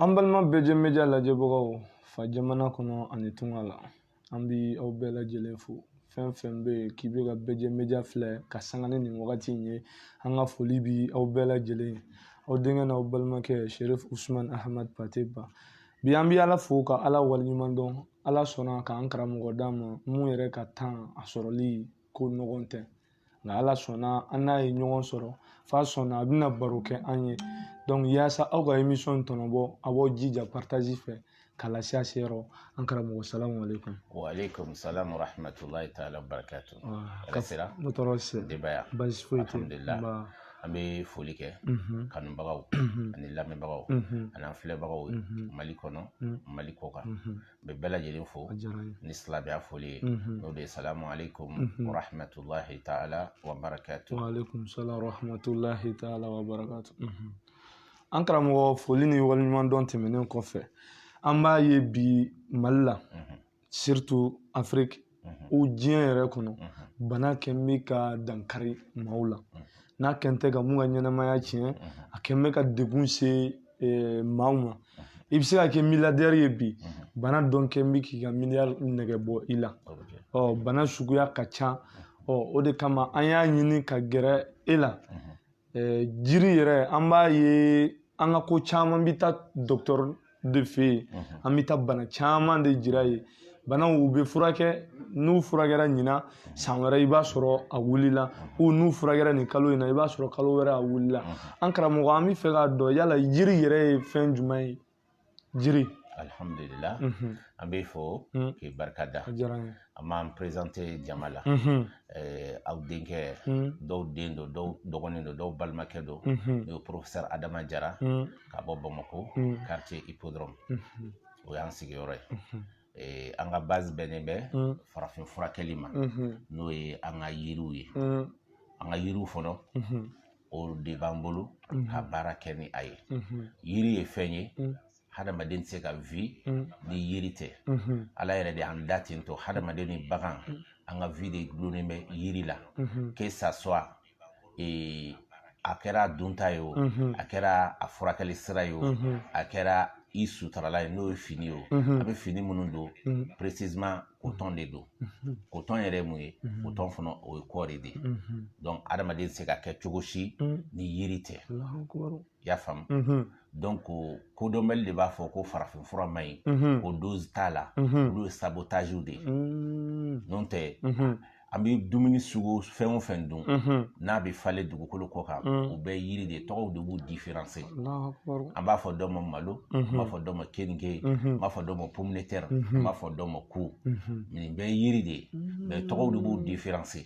An balima bɛjɛ media lajɛbagaw fa jamana kɔnɔ ani tunga la an bi aw bɛɛ lajɛlen fo fɛn fɛn bɛ yen k'i bɛ ka bɛjɛ media filɛ ka sanga ni nin wagati in ye an ka foli bi aw bɛɛ lajɛlen aw denkɛ n'aw balimakɛ sherif usman ahmad pate ba bi an bi ala fo ka ala waleɲuman dɔn ala sɔnna k'an karamɔgɔ d'an ma mun yɛrɛ ka temps a sɔrɔli ko nɔgɔn tɛ nka ala sɔnna an n'a ye ɲɔgɔn sɔrɔ f'a sɔnna a bɛna baro kɛ an ye donc yaasa aw ka emisɔn tɔnɔbɔ a b'aw jija paritazi fɛ k'a lase a se yɔrɔ an karamɔgɔ salamu aleykum waaleykum salam warahmatulahi taala barakatu ka sera ne tɔɔrɔ se denbaya basi foyi tɛ alhamdulilayi an bɛ foli kɛ mhm. kanubagaw mhm. ani lamɛnbagaw mhm. ani an filɛbagaw mali kɔnɔ mali kɔkan bɛ bɛɛ lajɛlen fo ni silamɛya foli ye n'o de ye salamu aleykum warahmatulahi taala wa barakatu aleykum salaam warahmatulahi taala wa barakatu an karamɔgɔ foli ni waleɲuman dɔn tɛmɛnen kɔfɛ an b'a ye bi mali la surtout afiriki o diɲɛ yɛrɛ kɔnɔ bana kɛn bɛ ka dankari maaw la n'a kɛn tɛ ka mun ka ɲɛnamaya tiɲɛ a kɛn bɛ ka degun se maaw ma i bɛ se ka kɛ milliardaire ye bi bana dɔn kɛn bɛ k'i ka miliyari nɛgɛ bɔ i la ɔ bana suguya ka ca ɔ o de kama an y'a ɲini ka gɛrɛ e la jiri yɛrɛ an b'a ye an ka ko caman bɛ taa dɔgɔtɔrɔ de fɛ yen an bɛ taa bana caman de jira yen banaw u bɛ furakɛ n'u furakɛra ɲina san wɛrɛ i b'a sɔrɔ a wulila u n'u furakɛra nin kalo in na i b'a sɔrɔ kalo wɛrɛ a wulila an karamɔgɔ an b'a fɛ k'a dɔn yala jiri yɛrɛ ye fɛn jumɛn ye jiri alhamdulila mhm. an b'i fo mm. k'i barika da an b'an perezante jama la mhm. eh, aw denkɛ mm. dɔw den don dɔw dɔgɔnin don dɔw balimakɛ don mhm. n'o ye porofesɛri adama jara mm. ka bɔ bamakɔ karitiye ipodɔrɔmu o y'an sigiyɔrɔ ye ee, an ka base bɛnnen bɛ mm. farafin furakɛli ma mm-hmm. n'o ye an ka yiriw ye mm. an ka yiriw fɔlɔ mm-hmm. o de b'an bolo mm-hmm. ka baara kɛ ni a ye yiri ye fɛn ye mm. hadamaden tɛ se ka vi ni yiri tɛ ala yɛrɛ de y'an da ten to hadamaden ni bagan an ka vi de dulonnen bɛ yiri la que ça soit ee a kɛra dunta ye o a kɛra a furakɛli sira ye o a kɛra i sutarala ye n'o ye fini ye o a bɛ fini minnu don précisément kotɔn de don kotɔn yɛrɛ ye mun ye kotɔn fana o ye kɔɔri de ye donc adamaden tɛ se ka kɛ cogo si ni yiri tɛ i y'a faamu mhm. donc kodɔnbali de b'a fɔ ko farafin fura man ɲi mhm. ko dose t'a la mhm. olu ye sabotage de ye mm. n'o tɛ an bɛ dumuni sugu fɛn o fɛn dun n'a bɛ falen dugukolo kɔ kan mm. u bɛɛ yiri de tɔgɔw de b'u différencier an b'a fɔ dɔ ma malo an b'a fɔ dɔ ma keninge an b'a fɔ dɔ ma pomme de terre an b'a fɔ dɔ ma ku nin bɛɛ yiri de ye mais tɔgɔw de b'u différencier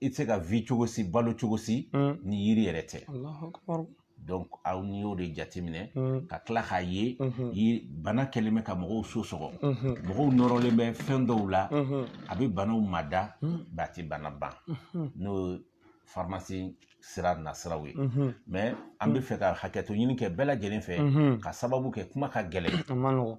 i tɛ se ka vie cogo si balo cogo si mm. ni yiri yɛrɛ tɛ donc aw n'i y'o de jateminɛ mm. ka tila k'a ye mm-hmm. bana kɛlen bɛ ka mɔgɔw so sɔgɔ mm-hmm. mɔgɔw nɔrɔlen bɛ fɛn dɔw la mm-hmm. a bɛ banaw mada mm. mais a tɛ bana ban n'o pharmacie sira nasiraw ye mais an bɛ fɛ ka hakɛto ɲini kɛ bɛɛ lajɛlen fɛ ka sababu kɛ kuma ka gɛlɛn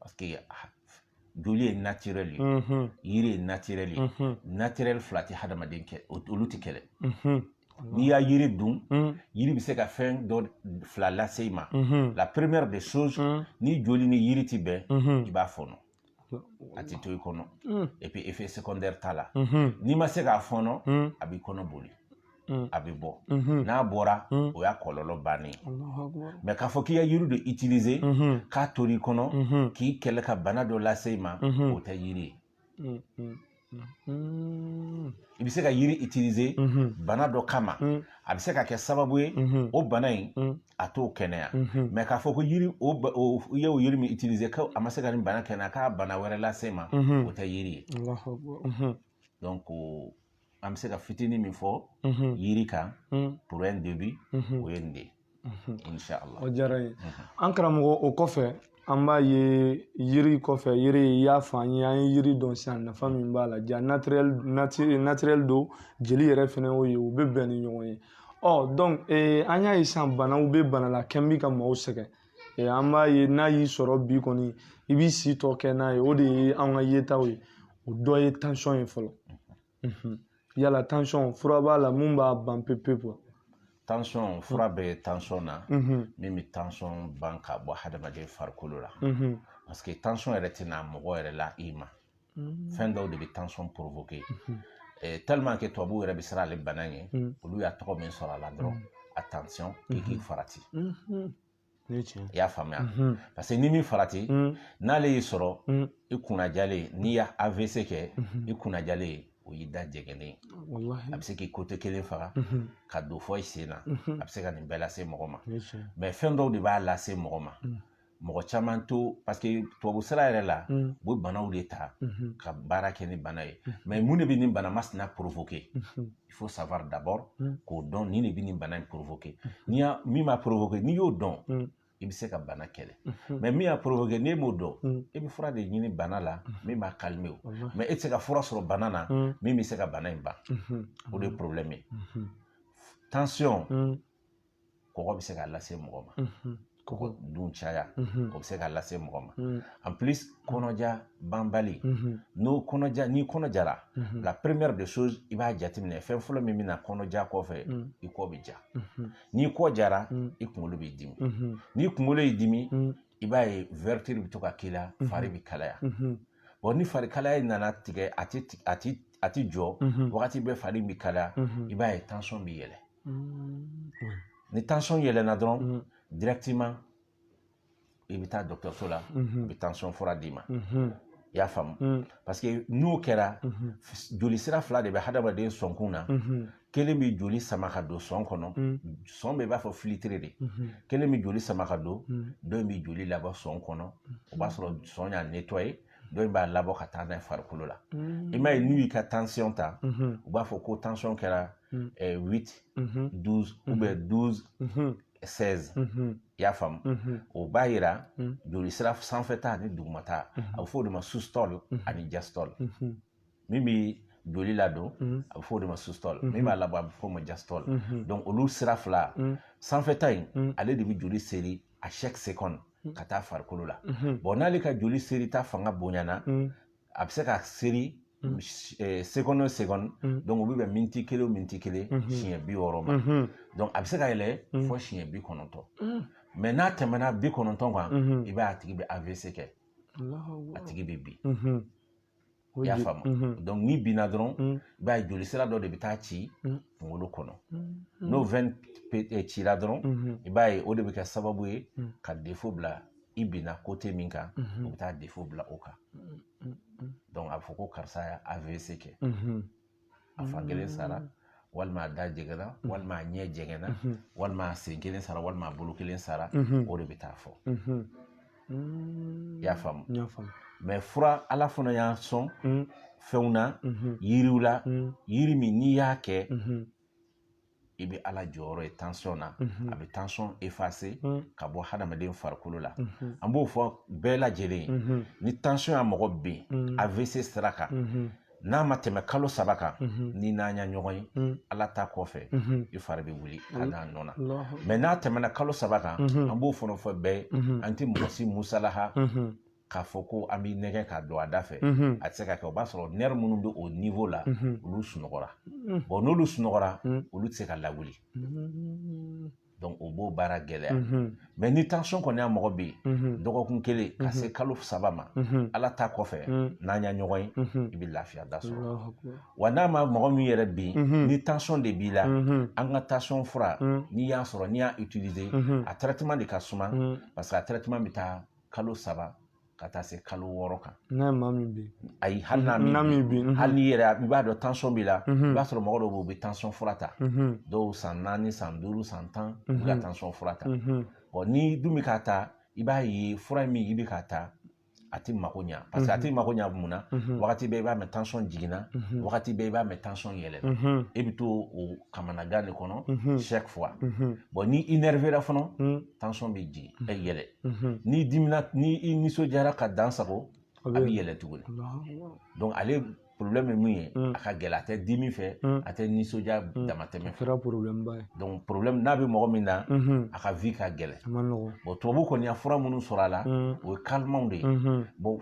parce que joli ye naturel ye yiri ye naturel ye naturel fila tɛ hadamaden kɛ olu tɛ kɛlɛ n'i y'a yiri dun yiri bɛ se ka fɛn dɔ fila lase i ma la première des choses ni joli ni yiri tɛ bɛn i b'a fɔnɔ a tɛ to i kɔnɔ et puis effet secondaire t'a la n'i ma se k'a fɔnɔ a b'i kɔnɔ boli mm. a bɛ bɔ mm-hmm. n'a bɔra mm. o y'a kɔlɔlɔ bannen mais k'a fɔ k'i y'a yiri de utiliser mm-hmm. k'a tora i kɔnɔ mm-hmm. k'i kɛlɛ ka bana dɔ lase i ma o tɛ yiri ye i bɛ se ka yiri utiliser bana dɔ kama a bɛ se ka kɛ sababu ye o bana in a t'o kɛnɛya mais k'a fɔ ko yiri o i y'o yiri min utiliser ko a ma se ka nin bana kɛnɛya ka bana wɛrɛ lase i ma o tɛ yiri ye an bɛ se ka fitinin min fɔ yiri kan pour un début o ye nin de o diyara n ye an karamɔgɔ o kɔfɛ an b'a ye yiri kɔfɛ yiri i y'a fɔ an ye an ye yiri dɔn sisan nafa min b'a la ja naturel don jeli yɛrɛ fɛnɛ y'o ye u bɛ bɛn ni ɲɔgɔn ye donc an y'a ye sisan banaw bɛ bana la kɛlen bɛ ka maaw sɛgɛn an b'a ye n'a y'i sɔrɔ bi kɔni i b'i si tɔ kɛ n'a ye o de ye an ka yetaw ye o dɔ ye tension ye fɔlɔ yala tension fura b'a la mun b'a ban pewu pewu tension fura bɛ tension na min bɛ tension ban ka bɔ hadamaden farikolo la parce que tension yɛrɛ tɛ na mɔgɔ yɛrɛ la i ma mm. fɛn dɔw de bɛ tension provoquer mm-hmm. eh, tellement que tubabuw yɛrɛ bɛ siran ale bana ɲɛ mm. olu y'a tɔgɔ min sɔrɔ a la dɔrɔn attention k'i k'i farati i y'a faamuya parce que n'i m'i farati n'ale y'i sɔrɔ i kunnajalen n'i y'a AVC kɛ i kunnajalen ye o y'i da jɛgɛnnen a bɛ se k'i côté kelen faga mhm. ka don fɔ i sen na mhm. a bɛ se ka nin bɛɛ lase mɔgɔ ma mais fɛn dɔw de b'a lase mɔgɔ ma mhm. mɔgɔ caman to parce que tubabu sira yɛrɛ la mm. u bɛ banaw de ta mm-hmm. ka baara kɛ ni bana ye mm-hmm. mais mun de bɛ nin bana masina provoquer mm-hmm. il faut savoir d'abord mm. k'o dɔn nin de bɛ nin bana in provoquer n'i y'a min b'a provoquer n'i y'o dɔn mm. i bɛ se ka bana kɛlɛ mais min y'a provoquer n'e m'o dɔn e bɛ fura de ɲini bana la min b'a calmer o mais e tɛ se ka fura sɔrɔ bana na min bɛ se ka bana in ban o de ye problème ye tension kɔgɔ bɛ se k'a lase mɔgɔ ma kɔgɔ dun caya o bɛ se k'a lase mɔgɔ ma en plus kɔnɔja banbali n'o kɔnɔja n'i kɔnɔjara la première des choses i b'a jateminɛ fɛn fɔlɔ min bɛ na kɔnɔja kɔfɛ i kɔ bɛ ja n'i kɔ jara i kunkolo b'i dimi n'i kunkolo y'i dimi i b'a ye vertige bɛ to ka k'i la fari bɛ kalaya bon ni fari kalaya nana tigɛ a ti a ti a ti jɔ wagati bɛɛ fari bɛ kalaya i b'a ye tension bɛ yɛlɛ ni tension yɛlɛna dɔrɔn directement i bɛ taa dɔkɔtɔrɔso la u bɛ tension fura d'i ma i y'a faamu parce que n'o kɛra joli sira fila de bɛ hadamaden sɔnkun na kelen bɛ joli sama ka don sɔn kɔnɔ sɔn bɛ i b'a fɔ filtre de kelen bɛ joli sama ka don dɔ in bɛ joli labɔ sɔn kɔnɔ o b'a sɔrɔ sɔn y'a nettoyer dɔ in b'a labɔ ka taa n'a ye farikolo la i m'a ye n'u y'i ka tension ta u b'a fɔ ko tension kɛra huit douze ou bien douze seize i y'a faamu o b'a yira joli sira sanfɛta ani dugumata a bɛ fɔ o de ma systole ani diastole min bɛ joli ladon mhm. a bɛ fɔ o de ma systole mhm. min b'a labɔ a bɛ fɔ o ma diastole mhm. donc olu sira fila sanfɛta in ale de bɛ joli seri à chaque seconde ka taa farikolo la bon n'ale ka joli seri ta fanga bonyana a bɛ se ka seri eh, seconde o seconde donc o bɛ bɛn miniti kelen o miniti kelen siɲɛ bi wɔɔrɔ ma donc a bɛ se ka yɛlɛ fɔ siɲɛ bi kɔnɔntɔn mais n'a tɛmɛna bi kɔnɔntɔn kan i b'a a tigi bɛ avc kɛ a tigi bɛ bin i y'a faamu mhm. donc n'i binna dɔrɔn mhm. i b'a ye joli sira dɔ de bɛ taa ci mhm. kunkolo kɔnɔ n'o veine eh, cira dɔrɔn i b'a ye o de bɛ kɛ sababu ye ka défaut bila i binna côté min kan o bɛ taa défaut bila o kan donc a bɛ fɔ ko karisa y'a avc kɛ a fan kelen sara mm. walima a da jɛgɛna mm. walima a ɲɛ jɛgɛna mm-hmm. walima a sen kelen sara walima a bolo kelen sara mm-hmm. o de bɛ taa fɔ mm-hmm. mm. y'a faamu mais fura ala fana y'a sɔn fɛnw na yiriw la yiri min n'i y'a kɛ i bɛ ala jɔyɔrɔ ye tansɔn na a bɛ tansɔn effacer ka bɔ hadamaden farikolo la an b'o fɔ bɛɛ lajɛlen ni tansɔn ya mɔgɔ bin AVC sira kan n'a ma tɛmɛ kalo saba kan ni n'an ya ɲɔgɔn ye ala ta kɔfɛ i fari bɛ wuli ka n'a nɔ na mais n'a tɛmɛna kalo saba kan an b'o fana fɔ bɛɛ ye an tɛ mɔgɔ si musalaha k'a fɔ ko an b'i nɛgɛn ka don a da fɛ a tɛ se ka kɛ o b'a sɔrɔ nerf minnu bɛ o niveau la olu sunɔgɔra bon n'olu sunɔgɔra olu tɛ se ka lawuli donc o b'o baara gɛlɛya mais ni tansɔn kɔni ya mɔgɔ bin dɔgɔkun kelen ka se kalo saba ma ala ta kɔfɛ n'an ya ɲɔgɔn ye i bɛ lafiya da sɔrɔ wa n'a ma mɔgɔ min yɛrɛ bin ni tansɔn de b'i la an ka tansɔn fura n'i y'a sɔrɔ n'i y'a utiliser a traitement de ka suma parce que a traitement bɛ taa kalo saba ka taa se kalo wɔɔrɔ kan n'a ma min bin ayi hali n'a m'i bin mhm. hali n'i yɛrɛ i b'a dɔn tansɔn b'i la mhm. i b'a sɔrɔ mɔgɔ dɔw bɛ yen u bɛ tansɔn fura ta mhm. dɔw san naani san duuru san tan u bɛ ka tansɔn fura ta n'i dun bɛ k'a ta i b'a ye fura min i bɛ k'a ta a t'i mako ɲa parce que a t'i mako ɲa mun na wagati bɛɛ i b'a mɛn tansɔn jiginna wagati bɛɛ i b'a mɛn tansɔn yɛlɛna e bɛ to o kamanagan de kɔnɔ chaque fois ni i énervéra fana tansɔn bɛ jigin ɛ yɛlɛ n'i dimina ni i nisɔndiyara ka dan sagon a bɛ yɛlɛ tuguni ale porobilɛmu ye mun ye a ka gɛlɛ a tɛ dimi fɛ a tɛ nisɔndiya damatɛmɛ fɛ porobilɛmu n'a bɛ mɔgɔ min na a ka vie ka gɛlɛ tubabu kɔni ya fura minnu sɔrɔ a la o ye kalimanw de ye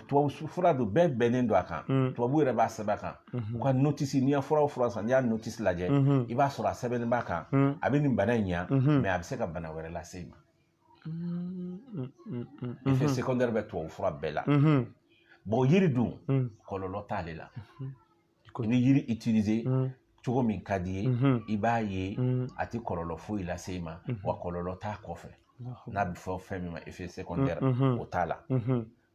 tubabu fura don bɛɛ bɛnnen don a kan tubabu yɛrɛ b'a sɛbɛn a kan u ka notice n'i ye fura o fura san n'i y'a notice lajɛ i b'a sɔrɔ a sɛbɛnnen b'a kan a bɛ nin bana in ɲa mais a bɛ se ka bana wɛrɛ lase i ma effet secondaire bɛ tubabu fura bɛɛ la bon yiri dun kɔlɔlɔ t'ale la i bɛ yiri utiliser cogo min ka d'i ye i b'a ye a tɛ kɔlɔlɔ foyi lase i ma wa kɔlɔlɔ t'a kɔfɛ n'a bɛ fɔ fɛn min ma effet secondaire o t'a la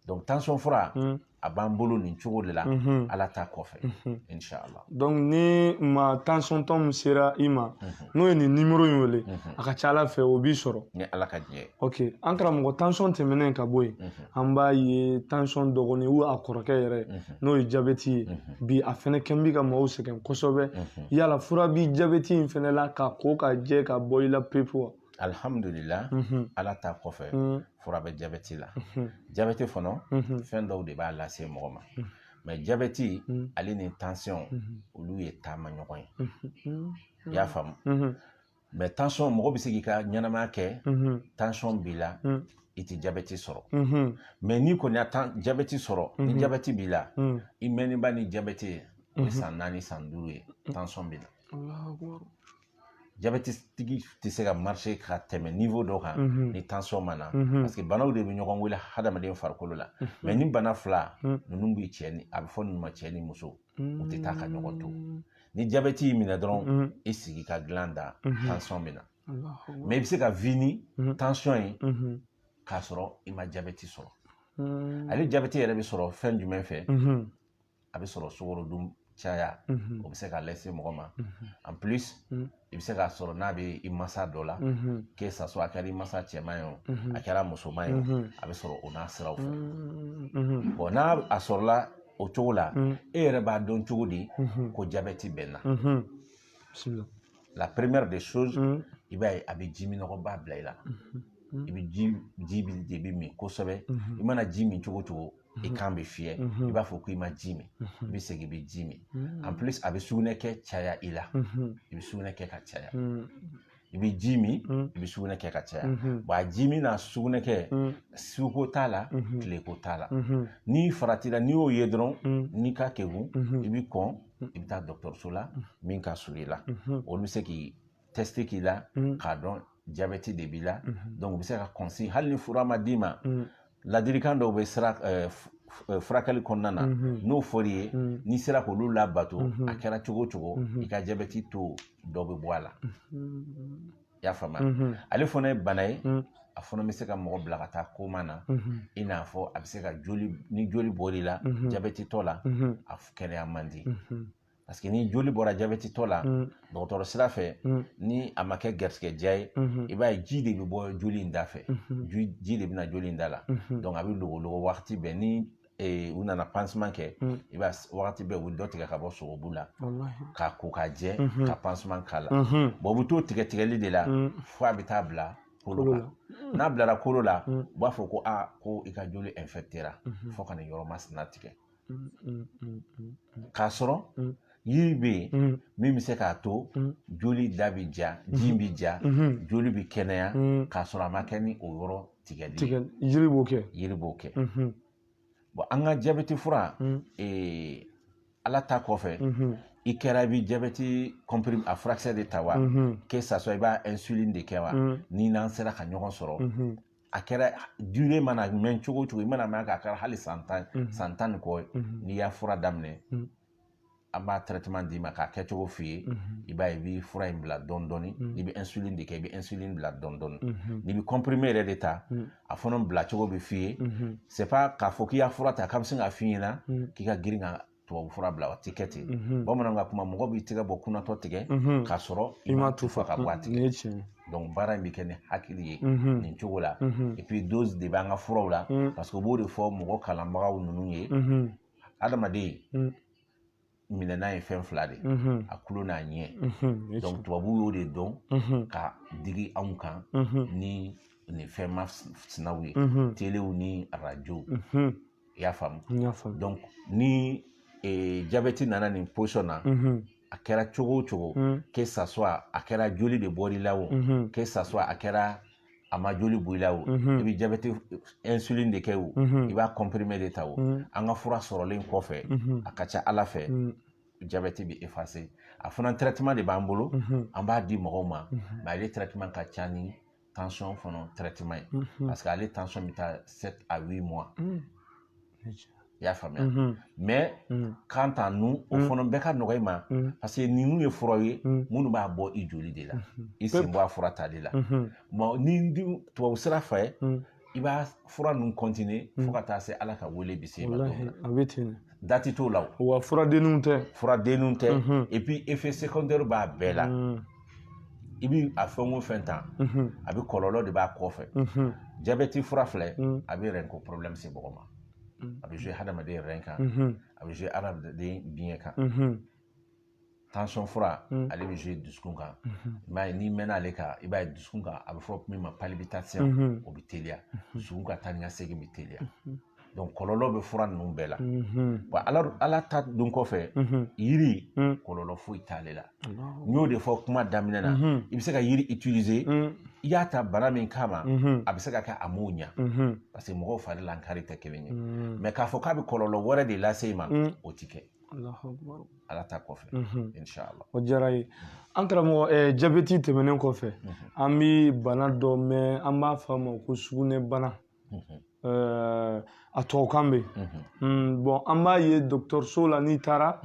donc tension fura hmm. a b'an bolo nin cogo de la mhm. ala ta kɔfɛ mhm. inshallah donc ni ma tension tɔ min sera i ma mhm. n'o ye nin numéro in wele a ka ca ala fɛ o b'i sɔrɔ ni ala ka diɲɛ ok an karamɔgɔ tension tɛmɛnen ka bɔ yen an b'a ye tension dɔgɔnin ou a kɔrɔkɛ yɛrɛ n'o ye jabɛti ye bi a fɛnɛ kɔni bɛ ka maaw sɛgɛn kosɛbɛ yala fura bi jabɛti in fɛnɛ la k'a ko k'a jɛ k'a bɔ i la pewu wa alihamdulila ala ta kɔfɛ fura bɛ jabɛti la jabɛti fana fɛn dɔw de b'a lase mɔgɔ ma mais jabɛti ale ni tansiyɔn olu ye taama ɲɔgɔn ye i y'a faamu mais tansiyɔn mɔgɔ bɛ se k'i ka ɲɛnamaya kɛ tansiyɔn b'i la i tɛ jabɛti sɔrɔ mais n'i kɔni ya tan jabɛti sɔrɔ ni jabɛti b'i la i mɛnniba ni jabɛti ye o ye san naani san duuru ye tansiyɔn b'i la jabɛtitigi tɛ se ka marcher ka tɛmɛ niveau dɔ kan ni tension ma na parce que banaw de bɛ ɲɔgɔn wele hadamaden farikolo la mais ni bana fila ninnu bɛ cɛ ni a bɛ fɔ ninnu ma cɛ ni muso u tɛ taa ka ɲɔgɔn to ni jabɛti y'i minɛ dɔrɔn i sigi ka dilan da tension bɛ na mais i bɛ se ka vie ni tension ye k'a sɔrɔ i ma jabɛti sɔrɔ ale jabɛti yɛrɛ bɛ sɔrɔ fɛn jumɛn fɛ a bɛ sɔrɔ sukaro dun caya o bɛ se k'a lase mɔgɔ ma en plus i bɛ se k'a sɔrɔ n'a bɛ i masa dɔ la que ça soit a kɛra i masa cɛman ye o a kɛra musoman ye o a bɛ sɔrɔ o n'a siraw fɛ bon n'a a sɔrɔla o cogo la e yɛrɛ b'a dɔn cogo di ko jabɛti bɛ n na la première des choses i b'a ye a bɛ ji minnɔgɔba bila i la i bɛ ji ji de bɛ min kosɛbɛ i mana ji min cogo cogo i mhm. kan bɛ fiyɛ mhm. i b'a fɔ ko i ma ji min mhm. i bɛ segin i bɛ ji min en plus a bɛ sugunɛ kɛ caya i la i bɛ sugunɛ kɛ ka caya i bɛ ji min i bɛ sugunɛ kɛ ka caya bon a ji min n'a sugunɛ kɛ suko t'a la tileko t'a la n'i faratira n'i y'o ye dɔrɔn n'i ka kegun i bɛ kɔn i bɛ taa dɔgɔtɔrɔso la min ka surun i la olu bɛ se k'i test k'i la mm. k'a dɔn jabɛti de b'i la mm-hmm. donc u bɛ se ka consigne hali ni fura ma d'i ma mm. ladirikan dɔw bɛ sira eh, eh, furakɛli kɔnɔna na mm-hmm. n'o fɔr'i ye mm. n'i sera k'olu labato mm-hmm. a kɛra cogo cogo i ka jabɛti taux dɔ bɛ bɔ a la i y'a faamuya ale fana ye bana ye a fana bɛ se ka mɔgɔ bila ka taa koma na i n'a fɔ a bɛ se ka joli ni joli bɔr'i la jabɛtitɔ la a kɛnɛya man di parce que ni joli bɔra jabɛtitɔ la mm. dɔgɔtɔrɔ sira fɛ mm. ni a ma kɛ garisigɛdiya ye mm-hmm. i b'a ye ji de bɛ bɔ joli in da fɛ mm-hmm. ji de bɛ na joli in da la mm-hmm. donc a bɛ logologo wagati bɛɛ ni eh, u nana pansement kɛ i b'a wagati bɛɛ u bɛ dɔ tigɛ ka bɔ sogobu la k'a ko k'a jɛ ka pansement k'a la bon u bɛ t'o tigɛ tigɛli de la mm. fo a bɛ taa bila kolo kan n'a bilara kolo la u b'a fɔ ko aa ko i ka joli infectera fo ka nin yɔrɔ masina tigɛ k'a sɔrɔ yiri bɛ yen mm. min bɛ se k'a to mm. joli da bɛ ja mm-hmm. ji bɛ ja mm-hmm. joli bɛ kɛnɛya mm. k'a sɔrɔ a ma kɛ ni o yɔrɔ tigɛli tigɛ yiri b'o kɛ yiri b'o kɛ mm-hmm. bon an ka jabɛti fura eh, ala ta kɔfɛ i kɛra i bɛ jabɛti comprimé a furakisɛ de ta wa que ça soit i b'a insuline de kɛ wa ni n'an sera ka ɲɔgɔn sɔrɔ a kɛra durée mana mɛn cogo cogo i mana mɛn k'a kɛra hali san tan mhm. san tan ni kɔ mhm. n'i y'a fura daminɛ mhm. an b'a traitement d'i ma k'a kɛ cogo f'i ye i b'a ye i bɛ fura in bila dɔɔni dɔɔni n'i bɛ insuline de kɛ i bɛ insuline bila dɔɔni dɔɔni n'i bɛ comprimé yɛrɛ de ta a fana bila cogo bɛ f'i ye c'est pas k'a fɔ k'i y'a fura ta k'an bɛ sin k'a f'i ɲɛna k'i ka girin ka tubabu fura bila o tɛ kɛ ten mhm. bamananw ka kuma mɔgɔ b'i tigɛ bɔ kunatɔ tigɛ mhm. k'a sɔrɔ i ma tufa ka bɔ a tigɛ donc baara in bɛ kɛ ni hakili ye mhm. nin cogo la et puis dose de b'an ka furaw la parce que u b'o de fɔ mɔgɔ kalanbagaw ninnu ye adamaden minɛnan ye fɛn fila de ye a tulo n'a ɲɛ donc tubabu y'o de dɔn ka digi anw kan ni nin fɛn masinaw ye telew ni arajow i y'a faamu donc ni e, jabɛti nana nin position na mhm. a kɛra cogo o cogo mhm. que ça soit a kɛra joli de bɔr'i la o mhm. que ça soit a kɛra a ma joli bɔ i la o i bɛ jabɛti insuline de kɛ o i b'a comprimé de ta o an ka fura sɔrɔlen kɔfɛ a ka ca ala fɛ jabɛti bɛ effacer a fana traitement de b'an bolo an b'a di mɔgɔw ma mais ale traitement ka ca ni tension fana traitement ye mm-hmm. parce que ale tension bɛ taa sept à huit mois mm. i y'a faamuya mm-hmm. mais mm. quant à nous o mm. fana bɛɛ ka nɔgɔ i ma parce que ninnu ye furaw ye minnu b'a bɔ i joli de la mm-hmm. i sen bɔ a fura tali la bon ni tubabu sira fɛ i b'a fura ninnu continuer fo hmm. ka taa se ala ka wele bɛ s'i ma a bɛ ten dati t'o la o wa furadenninw tɛ furadenninw tɛ hmm. et puis effet secondaire b'a bɛɛ la hmm. i bi a fɛn o fɛn ta a bɛ kɔlɔlɔ de b'a kɔfɛ jabɛti fura filɛ a bɛ rein ko problème se mɔgɔ ma a bɛ jouer hadamaden rein kan a bɛ jouer hadamaden biɲɛ kan tension fura mm. ale bɛ jouer dusukun kan mm-hmm. i b'a ye n'i mɛnna ale kan i b'a ye dusukun kan a bɛ fɔ min ma palpitation mm-hmm. o bɛ teliya mm-hmm. dusukun ka taa ni ka segin bɛ teliya donc kɔlɔlɔ bɛ fura ninnu bɛɛ la wa ala ala ta don kɔfɛ yiri mm. kɔlɔlɔ foyi t'ale la n y'o de fɔ kuma daminɛ na i bɛ se ka yiri utiliser mm. i y'a ta bana min kama a bɛ se ka kɛ a m'o ɲa parce que mɔgɔw fari lankari tɛ kelen ye mais k'a fɔ k'a bɛ kɔlɔlɔ wɛrɛ de lase i ma o tɛ kɛ ala ta kɔfɛ inshallah o diyara n ye an karamɔgɔ eh, jabɛti tɛmɛnen kɔfɛ an bɛ bana dɔ mɛn an b'a fɔ a ma ko sugunɛbana eh, a tubabukan bɛ hmm, bon an b'a ye dɔgɔtɔrɔso la n'i taara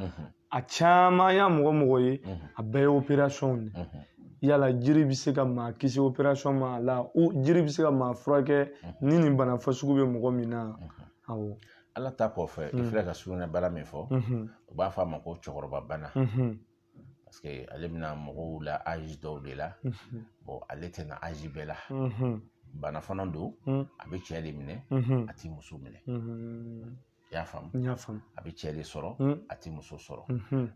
a caman an y'a mɔgɔ mɔgɔ ye a bɛɛ ye opérationw de yala jiri bɛ se ka maa kisi opération ma yala jiri bɛ se ka maa furakɛ ni nin bana fasugu bɛ mɔgɔ min na awɔ ala ta kɔfɛ i filɛ ka sugunɛbana min fɔ u b'a fɔ a ma ko cɛkɔrɔba bana parce que ale bɛ na mɔgɔw la âge dɔw de la bon ale tɛ na âge bɛɛ la bana fana don a bɛ cɛ de minɛ a tɛ muso minɛ i y'a faamu n y'a faamu a bɛ cɛ de sɔrɔ a tɛ muso sɔrɔ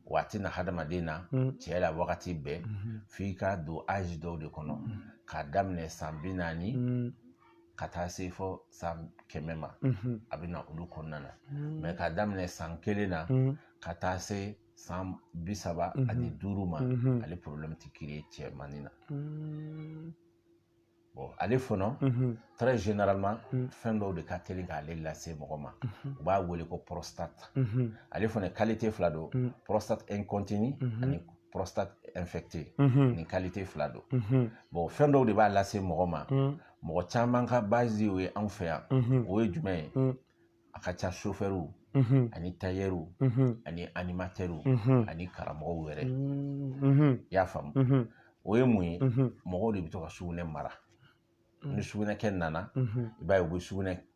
wa a tɛ na hadamaden na cɛ la wagati bɛɛ f'i ka don âge dɔw de kɔnɔ k'a daminɛ san bi naani ka taa se fɔ san kɛmɛ ma a bɛ na olu kɔnɔna na mais ka daminɛ san kelen na ka taa se san bi saba ani duuru ma ale problème tɛ créer cɛmanin na bon ale fana très généralement fɛn dɔw de ka teli k'ale lase mɔgɔ ma u b'a wele ko prostate ale fana qualité fila don prostate incontinue ani prostate infectée mhm. nin qualité fila don mhm. bon fɛn dɔw de b'a lase mɔgɔ ma mhm. mɔgɔ caman ka base o ye anw fɛ yan o ye jumɛn ye a ka ca chauffeurw ani tailleurw ani animateurw ani karamɔgɔw yɛrɛ i y'a faamu o ye mun ye mɔgɔw de bɛ to ka sugunɛ mara ni sugunɛkɛ nana i b'a ye u bɛ sugunɛ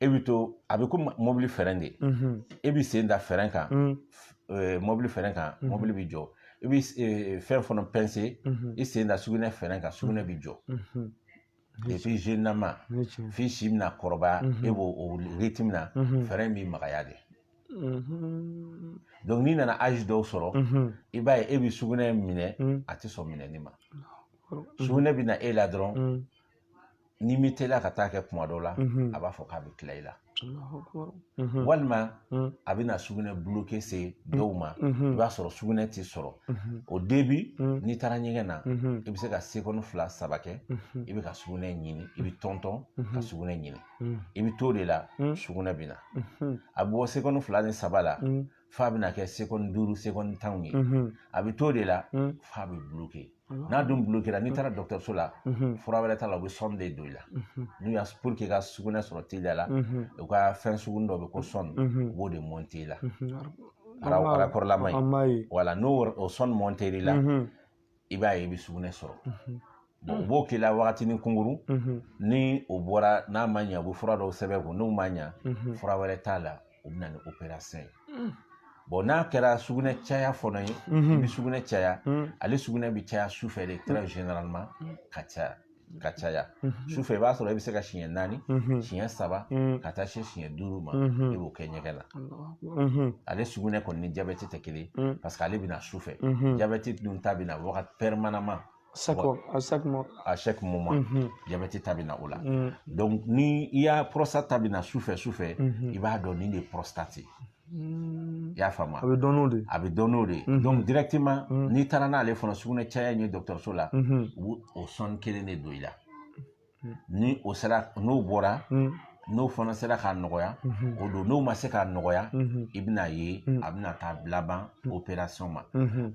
e bɛ to a bɛ ko mobili frein de e bɛ sen da frein kan mobili frein kan mobili bɛ jɔ i bɛ fɛn fana pincer i sen da sugunɛ frein kan sugunɛ bɛ jɔ et puis généralement f'i si bɛna kɔrɔbaya e b'o o rythme min na frein in bɛ magaya de donc n'i nana âge dɔw sɔrɔ i b'a ye e bɛ sugunɛ minɛ a tɛ sɔn minɛni ma sugunɛ bɛ na e la dɔrɔn n'i ma teliya ka taa kɛ kuma dɔ la a b'a fɔ k'a bɛ tila i la walima a bɛna sugunɛ bloqué se dɔw ma i b'a sɔrɔ sugunɛ tɛ sɔrɔ au début n'i taara ɲɛgɛn na i bɛ se ka seconde fila saba kɛ i bɛ ka sugunɛ ɲini i bɛ tɔntɔn ka sugunɛ ɲini i bɛ to de la sugunɛ bɛ na a bɛ bɔ seconde fila ni saba la f'a bɛna kɛ seconde duuru seconde tanw ye a bɛ to de la f'a bɛ bloquer n'a dun bloquera n'i taara dɔgɔtɔrɔso la fura wɛrɛ t'a la u bɛ sonde don i la n'u y'a pour que ka sugunɛ sɔrɔ teliya la u ka fɛn sugunin dɔ bɛ ko sonde u b'o de monter i la a raccord lama ye voilà n'o o sonde monter'i la i b'a ye i bɛ sugunɛ sɔrɔ u mm. b'o k'i la wagatinin kunkurun mm-hmm. ni o bɔra n'a ma ɲɛ u bɛ fura dɔw sɛbɛn i kun n'o ma ɲɛ mm-hmm. fura wɛrɛ t'a la u bɛ na ni opération ye mm. bon n'a kɛra sugunɛ caya fana ye mm-hmm. i bɛ sugunɛ caya mm. ale sugunɛ bɛ caya su fɛ de très généralement ka caya ka caya mhm. sufɛ i b'a sɔrɔ i bɛ se ka siɲɛ naani mhm. siɲɛ saba mhm. ka taa se siɲɛ duuru ma i b'o kɛ ɲɛgɛn na ale sugunɛ kɔni ni jabɛti tɛ kelen parce que ale bɛna sufɛ jabɛti dun ta bɛna wagati permanemment à chaque moment. Mm -hmm. Diabète ta bina o la. Mm. Donc ni i y'a prostate ta bina sufɛ sufɛ, mm -hmm. i b'a dɔn nin de ye prostate ye. y'a faamuya a bɛ dɔn n'o de ye a bɛ dɔn n'o de ye donc directement n'i taara n'ale fana sugunɛ caya in ye dɔgɔtɔrɔso la u b'o o sonde kelen de don i la ni o sera n'o bɔra n'o fana sera k'a nɔgɔya o don n'o ma se k'a nɔgɔya i bɛna ye a bɛna taa laban opération ma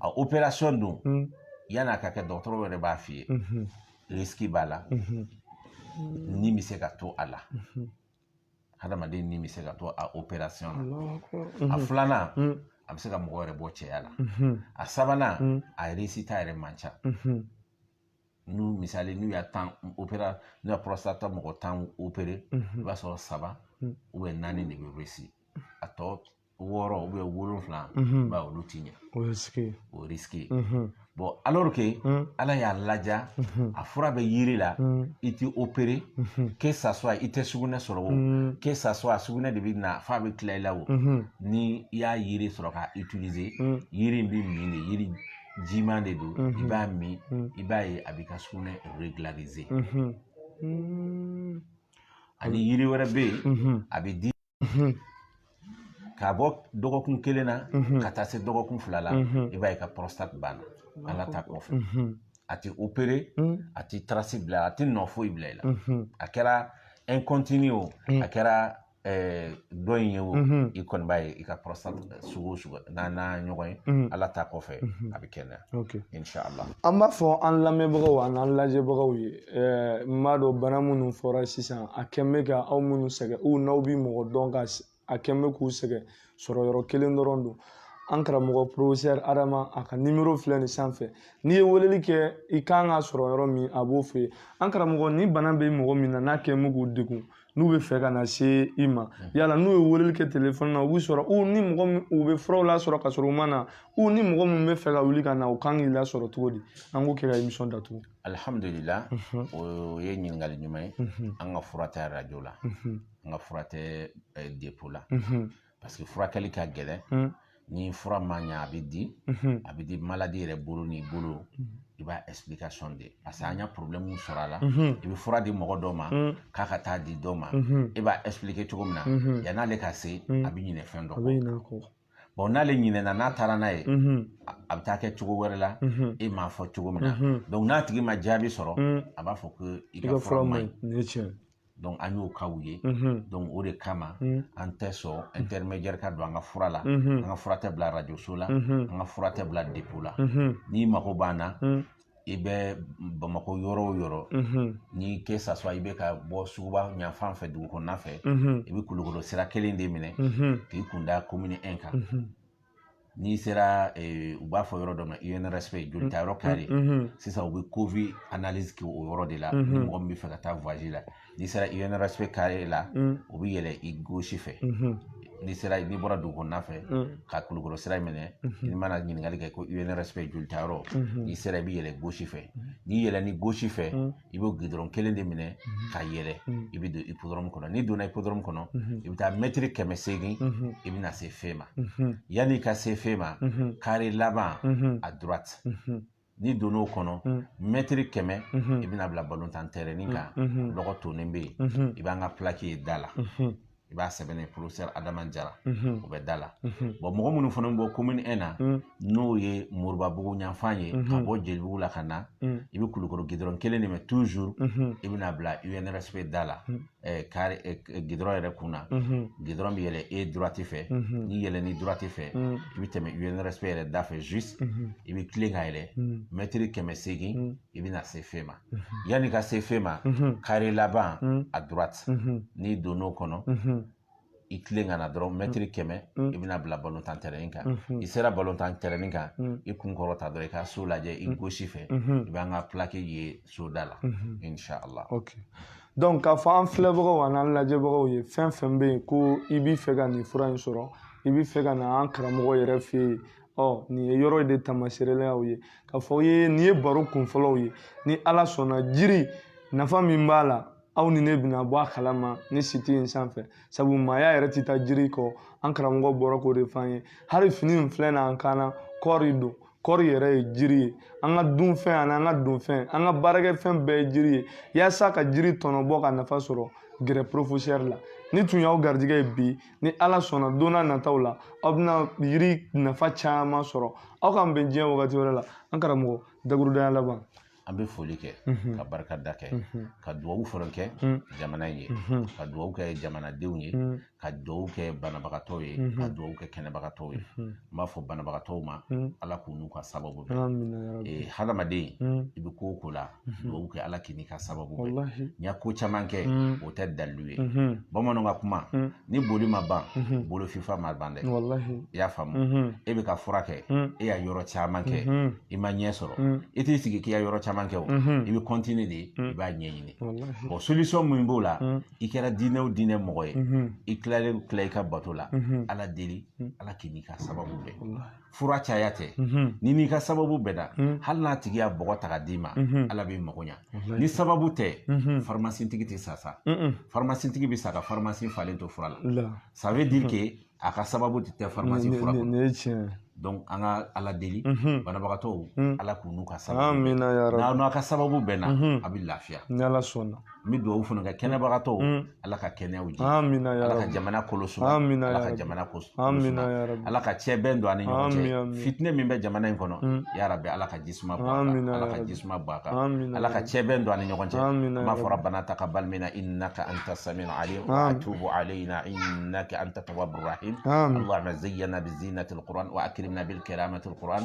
a opération dun yanni a ka kɛ dɔgɔtɔrɔ yɛrɛ b'a f'i ye risque b'a la ni bɛ se ka to a la hadamaden ni bɛ se ka to a opération na a filanan a bɛ se ka mɔgɔ yɛrɛ bɔ cɛya la a sabanan a réussite yɛrɛ man ca n'u misali n'u y'a tan opera n'u y'a prostate mɔgɔ tan opéré i b'a sɔrɔ saba ou bien naani de bɛ réussir a tɔ wɔɔrɔ wolonwula ba olu ti ɲɛ o ye o risque bon alors que ala y'a laja a fura bɛ yiri la i tɛ opéré que ça soit i tɛ sugunɛ sɔrɔ o que ça soit sugunɛ de bɛ na f'a bɛ tila i la o ni i y'a yiri sɔrɔ ka utiliser yiri in bɛ min de yiri jiman de don i b'a min i b'a ye a b'i ka sugunɛ régulariser ani yiri wɛrɛ bɛ yen a bɛ di ka bɔ dɔgɔkun kelen na ka taa se dɔgɔkun fila la i b'a ye ka prostate banna ala ta kɔfɛ a tɛ opéré a tɛ trace bila a tɛ nɔ foyi bila i la a kɛra ɛnkɔntini o a kɛra dɔ in ye o i kɔni b'a ye i ka prostate sugu o sugu n'a n'a ɲɔgɔn ye ala ta kɔfɛ a bɛ kɛnɛya insala an b'a fɔ an lamɛnbagaw ani an lajɛbagaw ye n b'a dɔn bana minnu fɔra sisan a kɛn bɛ ka aw minnu sɛgɛn u n'aw bɛ mɔgɔ dɔn ka a kɛn bɛ k'u sɛgɛn sɔrɔ yɔrɔ kelen dɔrɔn don an karamɔgɔ professeur adama a ka numéro filɛ nin sanfɛ n'i ye weleli kɛ i kan ka sɔrɔ yɔrɔ min a b'o f'i ye an karamɔgɔ ni bana bɛ mɔgɔ min na n'a kɛn bɛ k'u degun n'u bɛ fɛ ka na se i ma hmm. yala n'u ye weleli kɛ telefɔni na u bɛ sɔrɔ u ni mɔgɔ min u bɛ furaw lasɔrɔ ka sɔrɔ u ma na u ni mɔgɔ min bɛ fɛ ka wuli ka na u kan k'i lasɔrɔ cogo di an k'o kɛ ka émission datugu. alihamudulila mhm. o ye ɲininkali ɲuman ye mhm. an ka fura tɛ arajo la mhm. an ka fura tɛ eh, dépôt la. parce que furakɛli ka gɛlɛn hmm. ni fura ma ɲɛ a bɛ di hmm. a bɛ di malade yɛrɛ bolo n'i bolo hmm. i b'a explication di parce que an y'a problème sɔrɔ a la i bɛ fura di mɔgɔ dɔ ma k'a ka taa di dɔ ma e b'a expliquer cogo min na yan'ale ka se a bɛ ɲinɛ fɛn dɔ kɔ bon n'ale ɲinɛna n'a taara n'a ye mhm. a bɛ taa kɛ cogo wɛrɛ la mhm. e m'a fɔ cogo min na mhm. donc n'a tigi ma jaabi sɔrɔ a b'a fɔ ko i ka fura man ɲi donc an y'o kaw ye donc o de kama an tɛ sɔn intermédiaire ka don an ka fura la an ka fura tɛ bila radioso la an ka fura tɛ bila depo la n'i mago b'an na i bɛ bamakɔ yɔrɔ o yɔrɔ ni que ça soit i bɛ ka bɔ suguba ɲafan fɛ dugu kɔnɔna fɛ i bɛ kulukoro sira kelen de minɛ k'i kun da commune 1 kan n'i sera eh, u b'a fɔ yɔrɔ dɔ ma UNRSP jolita yɔrɔ kare mm, mm, mm. sisan u bɛ covid analyse kɛ o yɔrɔ de la ni mɔgɔ min bɛ fɛ ka taa voyage la n'i sera UNRSP kare la i bɛ yɛlɛ i gauche fɛ n'i sera n'i bɔra dugu kɔnɔna fɛ ka kulukɔrɔ sira minɛ n'i mana ɲininkali kɛ ko UNRSP jolita yɔrɔ n'i sera i bɛ yɛlɛ gauche fɛ n'i yɛlɛnn'i gauche fɛ i bɛ gudɔrɔn kelen de minɛ mhm. ka yɛlɛ mhm. i bɛ don ipodɔrɔmu kɔnɔ n'i donna ipodɔrɔmu kɔnɔ mhm. i bɛ taa mɛtiri kɛmɛ seegin i bɛna se feu ma yanni i ka se feu ma kare laban à droite n'i donna o kɔnɔ mɛtiri kɛmɛ i bɛna bila balontan tɛrɛnin kan lɔgɔ tonnen bɛ yen i b'an ka pilaki ye da la i b'a sɛbɛnnen professeur adama jara o bɛ da la bon mɔgɔ minnu fana bɔ commune 1 na n'o ye moribabugu ɲanfan ye ka bɔ jelibugu la ka na i bɛ kulukoro gidɔrɔn kelen de minɛ toujours i bɛna bila UNRSP da la kare gidɔrɔn yɛrɛ kun na gidɔrɔn bɛ yɛlɛ i droite fɛ n'i yɛlɛnn'i droite fɛ i bɛ tɛmɛ UNRSP yɛrɛ da fɛ juste i bɛ tilen ka yɛlɛ mɛtiri kɛmɛ seegin i bɛna se feu ma yanni ka se feu ma kare laban à droite n'i donn'o kɔnɔ i tilen ka na dɔrɔn mɛtiri kɛmɛ i bɛna bila balontan tɛrɛnin kan i sera balontan tɛrɛnin kan i kun kɔrɔta dɔrɔn i ka so lajɛ i gauche fɛ i b'an ka pilaki ye soda la inshallah donc k'a fɔ an filɛbagaw an'an lajɛbagaw ye fɛn fɛn bɛ yen ko i b'i fɛ ka nin fura in sɔrɔ i b'i fɛ ka na an karamɔgɔ yɛrɛ fɛ yen ɔ nin ye yɔrɔ de tamaseerelen y'aw ye k'a f'aw ye nin ye baro kunfɔlɔw ye ni ala sɔnna jiri nafa min b'a la aw ni ne bɛna bɔ a kalama nin siti in sanfɛ sabu maaya yɛrɛ tɛ taa jiri kɔ an karamɔgɔ bɔra k'o de fɔ an ye hali fini in filɛ na an kan na kɔɔri don kɔɔri yɛrɛ ye jiri ye an ka dunfɛn ani an ka donfɛn an ka baarakɛfɛn bɛɛ ye jiri ye yaasa ka jiri tɔnɔ bɔ ka nafa sɔrɔ gɛrɛ porofosɛri la nin tun y'aw garijɛgɛ ye bi ni ala sɔnna don nataw la aw bɛna yiri nafa caman sɔrɔ aw k'an bɛn diɲɛ wagati wɛrɛ la an karamɔgɔ dakuru daɲɛ laban an bɛ foli kɛ mhm. ka barikada kɛ mhm. ka dugawu fɔlɔ kɛ mhm. jamana ye ka dugawu kɛ jamanadenw ye ka dugawu kɛ banabagatɔw ye ka dugawu kɛ kɛnɛbagatɔw ye n b'a fɔ banabagatɔw ma ala k'u n'u ka sababu bɛn hadamaden i bɛ ko o ko la dugawu kɛ ala k'i n'i ka sababu bɛn n ye ko caman kɛ o tɛ dalilu ye bamananw ka kuma ni boli ma ban bolo fifa ma ban dɛ i y'a faamu e bɛ ka fura kɛ i ye yɔrɔ caman kɛ i ma ɲɛ sɔrɔ i t'i sigi k'i ye yɔrɔ caman kɛ o i bɛ continuer de i b'a ɲɛɲini bon solution min b'o la i kɛra diinɛ o diinɛ mɔgɔ ye i tilalen tila i ka bato la ala deli ala k'i n'i ka sababu bɛn fura caya tɛ n'i n'i ka sababu bɛnna hali n'a tigi ye bɔgɔ ta ka d'i ma ala b'i mago ɲa ni sababu tɛ faramasitigi tɛ sa sa faramasitigi bɛ sa ka faramasi falen to fura la ça veut dire que a ka sababu de tɛ faramasi fura kɔnɔ donc an ka ala deli banabagatɔw ala k'u n'u ka sababu n'aw ka sababu bɛnna a bɛ lafiya ni ala sɔnna n bɛ dugawu fana kɛ kɛnɛbagatɔw ala ka kɛnɛyaw di ala ka jamana kolo suma ala ka jamana kolo suma ala ka cɛ bɛn don an ni ɲɔgɔn cɛ fitinɛ min bɛ jamana in kɔnɔ ya rabbi ala ka ji suma bɔn a kan ala ka ji suma bɔn a kan ala ka cɛ bɛn don an ni ɲɔgɔn cɛ an b'a fɔ rabbana taqabbal minna innaka anta samiul alim wa tub alayna innaka anta tawwabur rahim allahumma zayyinna bi zinatil qur'an wa akrimna bi karamatil qur'an